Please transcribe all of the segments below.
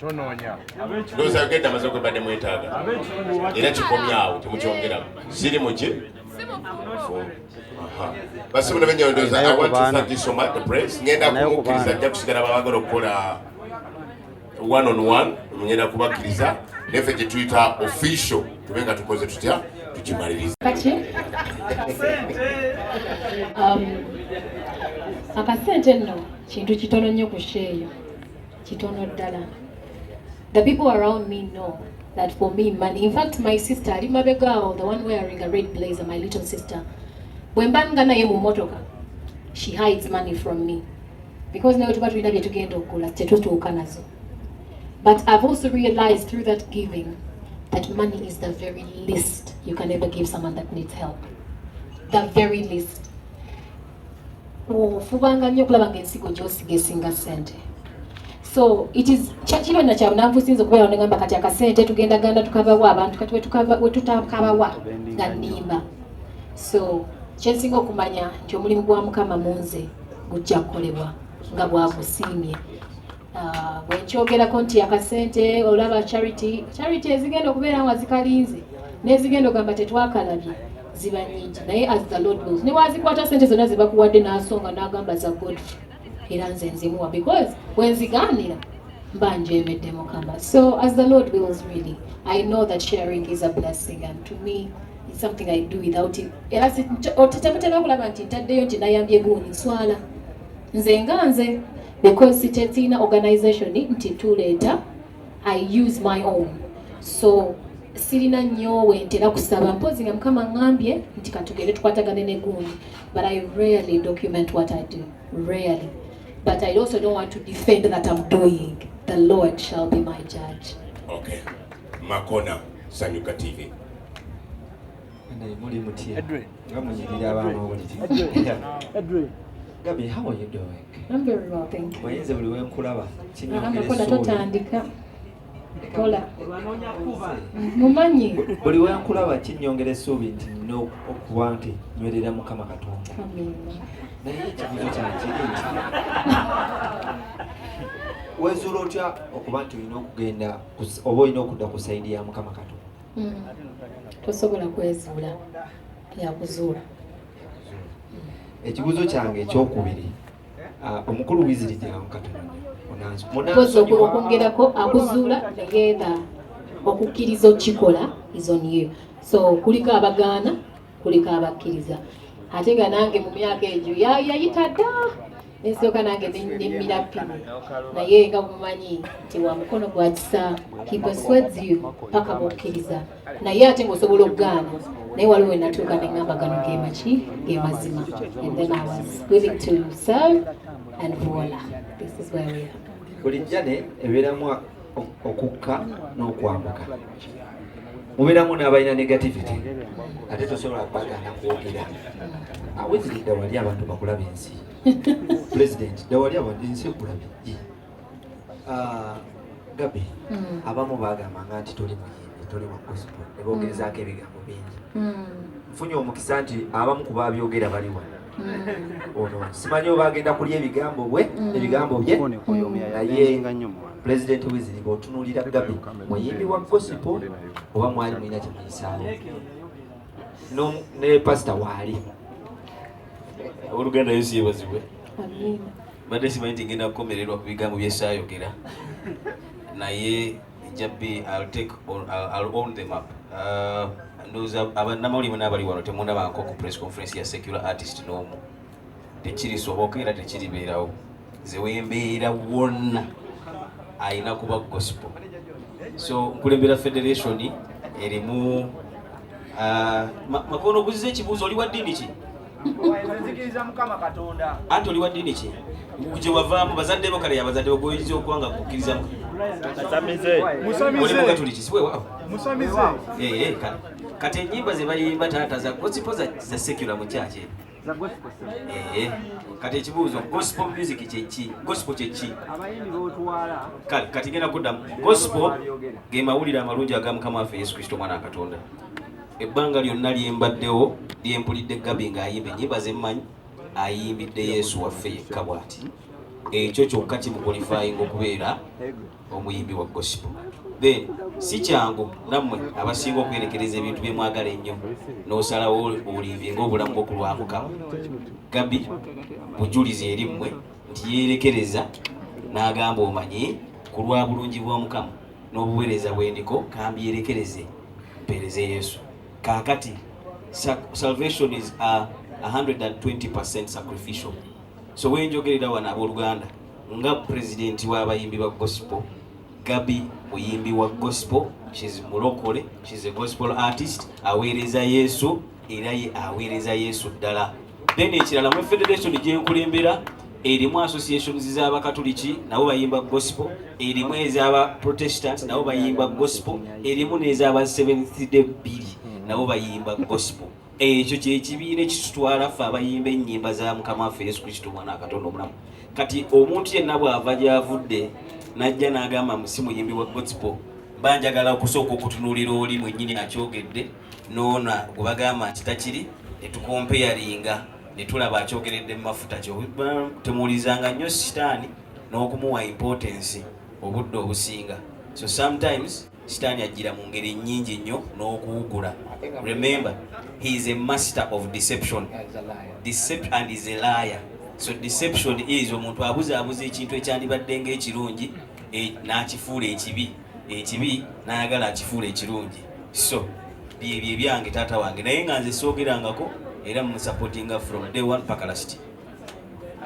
tonoonya ndowooza yogedde amaze gwe badde mwetaaga era kikomyawo temukyongeramu siri muki basibula benyondoza awantusatisoma the press ngenda kumukkiriza ajja kusigala babagala okukola one on one ngenda kubakkiriza nefe gyetuyita official tube nga tukoze tutya tukimaliriza um, akasente nno kintu kitono nnyo ku sheeyo kitono ddala the people around me know that for me money in fact my sister ali mabega awo the one wearing a red blazer my little sister bwe mba nga naye mu motoka she hides money from me because naye tuba tulina bye tugenda okugula tetutuuka nazo but i've also realized through that giving that money is the very least you can ever give someone that needs help the very least ofubanga nnyo okulaba nga ensigo gyosiga esinga ssente so it is kino na kyabunavu sinza okubeera onegamba kati akasente tugenda ganda tukabawa abantu kati wetutakabawa nga nimba so kyensinga okumanya nti omulimu gwa mukama munze gujja kukolebwa nga bwagusiimye ah, bwenkyogerako nti akasente olaba charity charity ezigenda okubeera nga zikalinze nezigenda ogamba tetwakalabye ziba nyingi naye as the lord knows ne wazikwata sente zonna zebakuwadde n'asonga n'agamba za godfrey era nze nzimuwa because bwenzigaanira mba njemedde mukama so as the lord wills really i know that sharing is a blessing and to me it's something i do without it era temuteeka kulaba nti ntaddeyo nti nayambye guuni nswala nze nga nze because sikyetiina organization nti tuleeta i use my own so sirina nnyo wentera kusaba mpozi nga mukama ngambye nti katugere tukwatagane ne gundi but i rarely document what i do rarely but i also don't want to defend that i'm doing the lord shall be my judge okay makona sanyuka tv muli mutya nga munyirira abaamawulire gabi how are you doing Manye nze buli wenkulaba kinyongera essuubi. Kola. Mumanyi. Buli wenkulaba kinyongera essuubi nti nina okuba nti nywerera Mukama Katonda. Naye ekibuzo kyakiri nti wezuula otya okuba nti olina okugenda oba olina okudda ku sayidi ya Mukama Katonda. Hmm. Tosobola kwezuula yakuzuula. ekibuzo kyange ekyokubiri ah, omukulu wiziri gyamu katondaokwongerako akuzuula egenda okukkiriza okukikola izoniyo so kuliko abagaana kuliko abakkiriza ate nga nange mu myaka egyo yayita dda nensooka nange nemmira ppini naye nga mumanyi nti wa mukono gwa kisa hiposweds you paka mukkiriza naye ate ngaosobola okugaana naye waliwo wenatuuka neŋamba gano gemaki gemazima and then i was willing to serve and voila this is where we are bulijja ne ebeeramu okukka n'okwambuka mubeeramu n'abalina negativity ate tosobola kubagaana kwogera aweziri dda wali abantu bakulaba ensi pulezidenti dda wali abantu ensi ekulabye ah, gabi hmm. abamu bagambanga nti toli muyimbi toli wa gospel ne boogerezaako ebigambo bingi hmm. nfunye omukisa nti abamu ku babyogera bali wano ono simanyi oba agenda kulya ebigambo bwe mm. ebigambo bye naye pulezidenti wiziriba otunuulira gabi muyimbi wa gosipo oba mwali mulina kyemuyisaawo ne pasita waali oluganda yesu yebazibwe mbadde simanyi nti ngenda kukomererwa ku bigambo byesaayogera naye Jabbi, I'll take or I'll, I'll own them up. Uh, ndoza abannamawulire bonna abali wano temunabanko ku press conference ya secular artist n'omu tekirisoboka era tekiribeerawo nze wembeera wonna alina kuba gospel so nkulembera federation erimu uh, makono guziza ekibuuzo oli wa ddiini ki anti oli wa ddiini ki gye wavaamu bazadde bo kale yabazadde ogoyinza okuba nga kukkiriza oli mugatuliki siwewawo eh, eh, kati enyimba ze bayimba taata za gospel za secular mu kyaki eh, kati ekibuuzo gospel music kyeki gospel kyeki kati genda kuddamu gospel ge mawulire amalungi agamukama waffe yesu kristo omwana wa katonda Ebbanga lyonna lye mbaddewo lye mpulidde Gabi ng'ayimba ennyimba ze mmanyi ayimbidde Yesu waffe yekka bw'ati ekyo kyokka kimukwalifayinga okubeera omuyimbi wa gospel then si kyangu nammwe abasinga okwerekereza ebintu bye mwagala ennyo n'osalawo olinvinga obulamu bwokulwamukamu gabi bujulizi eri mmwe nti yeerekereza n'agamba omanyi ku lwa bulungi bw'omukamu n'obuweereza bwendiko kambyerekereze mpeereze yesu kaakati salvation is a 120 sacrificial so wenjogerera wano abooluganda nga pulezidenti w'abayimbi ba gospel gabi muyimbi wa gospel kizi mulokole kizi gospel artist aweereza yesu era ye aweereza yesu ddala then ekirala mu federation gyenkulembera erimu associations z'abakatuliki nabo bayimba gospel erimu ez'aba protestant nabo bayimba gospel erimu n'ez'aba seventh day bbiri nabo bayimba gospel ekyo kyekibiina ekitutwala ffe abayimba ennyimba za mukama waffe yesu kristo omwana akatonda omulamu kati omuntu yenna bw'ava gy'avudde n'ajja n'agamba musi muyimbi wa gospel banjagala okusooka okutunuulira oli mwennyini akyogedde noona gwebagamba nti takiri netukompeyaringa netulaba akyogeredde mumafuta temuwulizanga nnyo sitaani n'okumuwa importance obudde obusinga so sometimes sitaani ajjira mu ngeri nnyingi nnyo n'okuwugula remember he is a master of deception Decept and is a liar so deception is omuntu abuzaabuza ekintu ekyandibadde nga ekirungi eh, n'akifuula ekibi ekibi nayagala akifuula ekirungi so byebyo ebyange taata wange naye nga nze soogerangako era mumusupportinga from day one paka last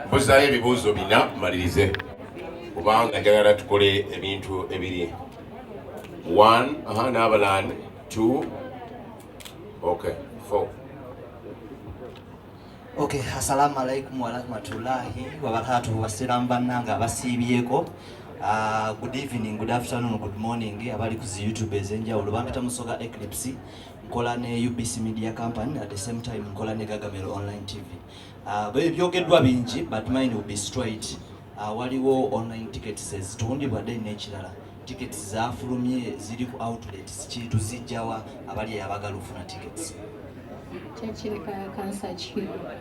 mbuzayo ebibuuzo bina malirize kubanga njagala tukole ebintu ebiri one aha n'abalani two okay four Okay, assalamu alaikum warahmatullahi wabarakatuhu wasiramu bannange abasiibyeko Uh, good evening, good afternoon, good morning abali ku zi YouTube ezenjawulo bampita musoga Eclipse nkola ne UBC Media Company at the same time nkola ne Gagamero Online TV uh, ah, byogeddwa bingi but mine will be straight Ah, waliwo online tickets ezitundibwa then n'ekirala tickets zafulumye ziri ku outlets kintu zijjawa abali abagala okufuna tickets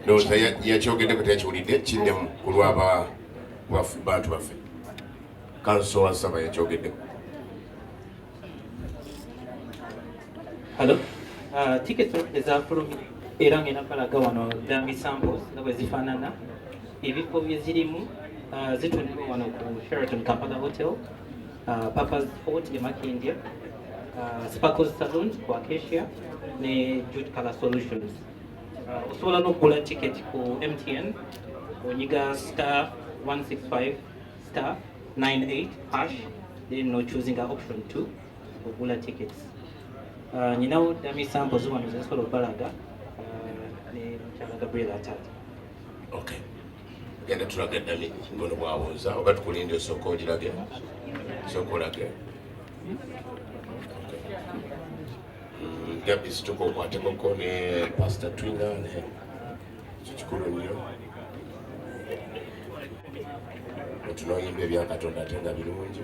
ndowooza yakyogeddeko teyakiwulidde kiddemu ku lwaba bantu baffe kanso wasaba yakyogeddeko Hello. Uh, ticket ezafulumye era ngenda balaga wano dambi samples nga bwe zifaanana ebifo bye zirimu uh, zitundibwa wano ku Sheraton Kampala Hotel, uh, Papa's Fort e Makindye, uh, Sparkles Saloon ku Acacia ne Jude Color Solutions. Uh, osobola n'okugula ticket ku MTN onyiga star 165 star 98 hash then no choosing option 2 okugula tickets uh, nyinawo dami sample zibano zezisobola okubalaga uh, ne mukyala gabriel atata okay genda tulaga dami ngono bwawunza oba tukulindi osooka ogirage sooka olage gabi situka okwatekoko ne pastor twina ne kikikulu nnyo otunoyimba ebyakatonda ate nga birungi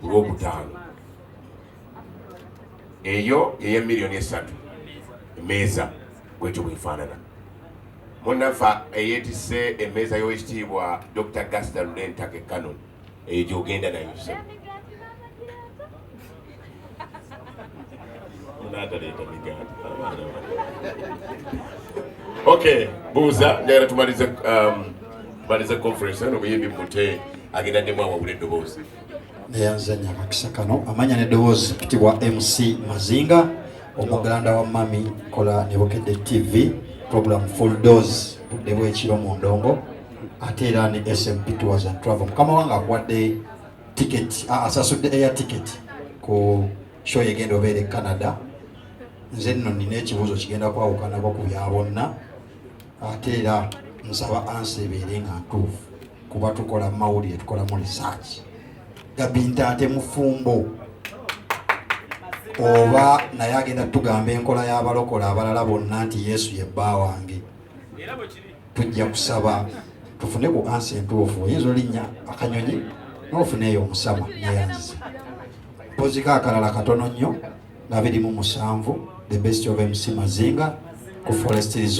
ku lwokutaano eyo yeye miliyoni esatu emeeza bwetyo bwefaanana munafa eyetise emeeza y'owekitiibwa dr gasta lunentake canon eyo gyogenda nayo sebo munagaleeta migaati okay buuza njagala tumalize um, malize conference eno muyimbi mute agenda ddemu awawula eddoboozi neyanzanya akakisa kano amanya neddoboozi kitibwa mc mazinga omuganda wa mami kola nebukedde tv program full dose budde bwekiro mu ndongo ate era ne smp tours and travel mukama wange akuwadde ticket ah, asasudde air ticket ku show egenda obeera e canada nze nno nina ekibuuzo kigenda kwawukanako ku bya bonna ate era nsaba ansi ebeere nga ntuufu kuba tukola mawulire tukolamu research gabinta ate mufumbo oba naye agenda tugamba enkola y'abalokola abalala bonna nti yesu ye bba wange tujja kusaba tufune ku ansi entuufu oyinza olinnya akanyonyi nofuneeyo omusama neyanziza mpoziko akalala katono nnyo nga birimu musanvu the best of mc mazinga ku forest resort